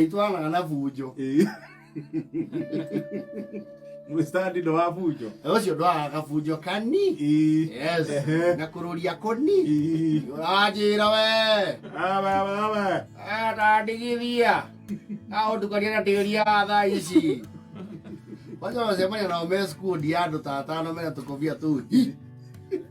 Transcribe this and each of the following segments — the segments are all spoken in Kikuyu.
itwaraga na bunjo Eh. Mũstandi ndo wa bunjo. ũcio ndwaraga kabunjo kani Eh. yes Ehe. na kũrũria kũni Eh. ũranjĩra we Aba, aba, aba. atandigithia aũtukania na tĩria wa thaa ici waca macemania nao me skundi ya andũ ta atano mena tũkobia tũu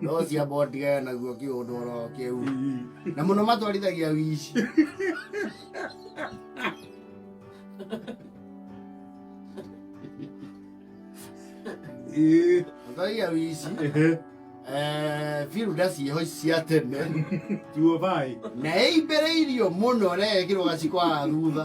no cia botiga naguo kiundoro kiu na muno matwarithagia wici Eh, matwarithagia wici eh firuda cieho ici cia tene tiwo bai na ĩimbĩrĩirio mũno rekĩrwo gaciko haha thutha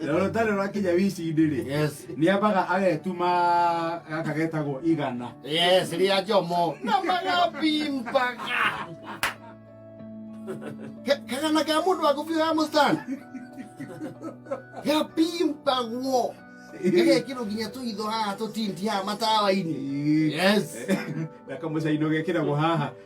na rũtarĩ rwakinya wici-inĩ-rĩ Yes. nĩ ambaga agetuma gaka getagwo igana Yes, rĩa njomo. Na magabimbaga. Ka- Kagana ka mũndũ wa kũbiũ ya mũstani. Gabimbagwo. Gagekĩrwo nginya tũitho haha tũtinti haha matawa-inĩ. Yes. na kamũcaino gekĩragwo haha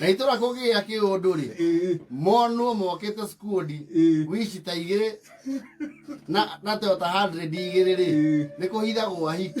na itũra kũgĩa kĩũndũ rĩ monwo mokĩte skundi wici ta igĩrĩ na na toyota 100 igĩrĩ rĩ nĩ kũhithagwo ahiki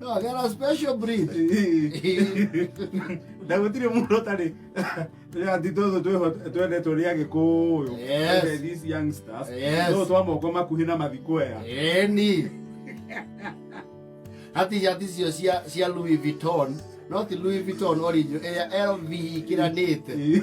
No, I got a special breed. na gutire mundu utari ati tuthu twĩho- twendetwo nĩ agĩkũyũ Yes. Ende these youngsters Yes. no twa moko makuhi na mathikwea Eni. Hati hati cio cia cia Louis Vuitton, no ti Louis Vuitton original, ĩrĩa LV ikiranĩte.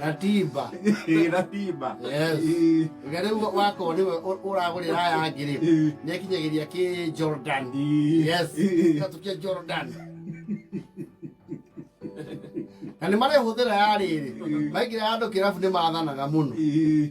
ratiba Ĩ, ratiba Yes. Ĩ, rĩu wakorwo nĩwe ũ- ũragũrĩra aya angĩ rĩ ĩ, nĩ akinyagĩria kĩ jordan ĩ. yes Ĩ, gatũ kĩa jordan na nĩ marehũthĩra ya rĩrĩ maingĩra handũ kĩrabu nĩ mathanaga mũno ĩ.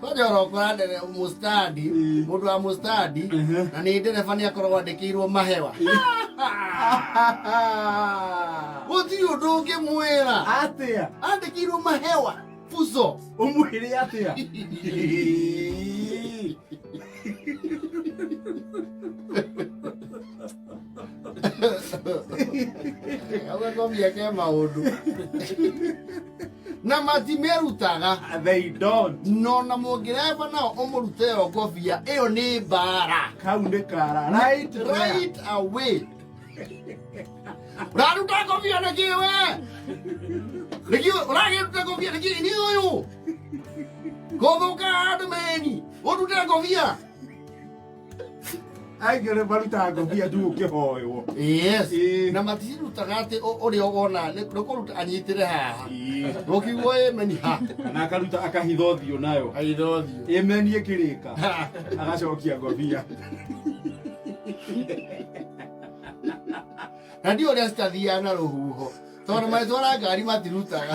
kwanja ũrokora ndere mũstandi mũndũ wa mũstandi na nĩ ndereba nĩ akoragwo andĩkĩirwo mahewa gũtirĩ ũndũ ũngĩmwĩra atia andĩkĩirwo mahewa puso ũmwĩre atia Hau no mĩeke maũndũ na matimerutaga they don't no na mũngĩreva nao ũmũrute yo ngobia ĩyo nĩ mbara kau nĩ kara right there. right away ũraruta ngobia nĩkĩ we nĩkĩ ũragĩruta ngobia nĩkĩ nĩ ũyũ gũthũka andũ meni ũrute ngobia aigere maruta ngobia tu ukihoywo yes Eh. na matirutaga atä å rä a wona nä kå ruta anyitä re haha gå kiugo ä meni ha na akaruta akahitha ũthiũ nayo aithothiå ĩmeni ĩkĩrĩka agacokia ngobia na ndiå å rä a citathiaga na rå huho tondå magätwara ngari matirutaga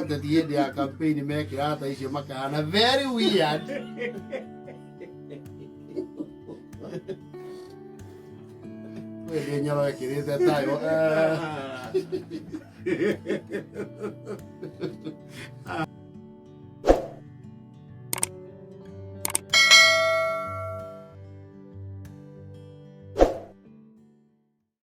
ateti hĩndĩ ya kampeni mekĩra hata icio makahana very weird wĩndĩ nyoro ĩkĩrĩte tayo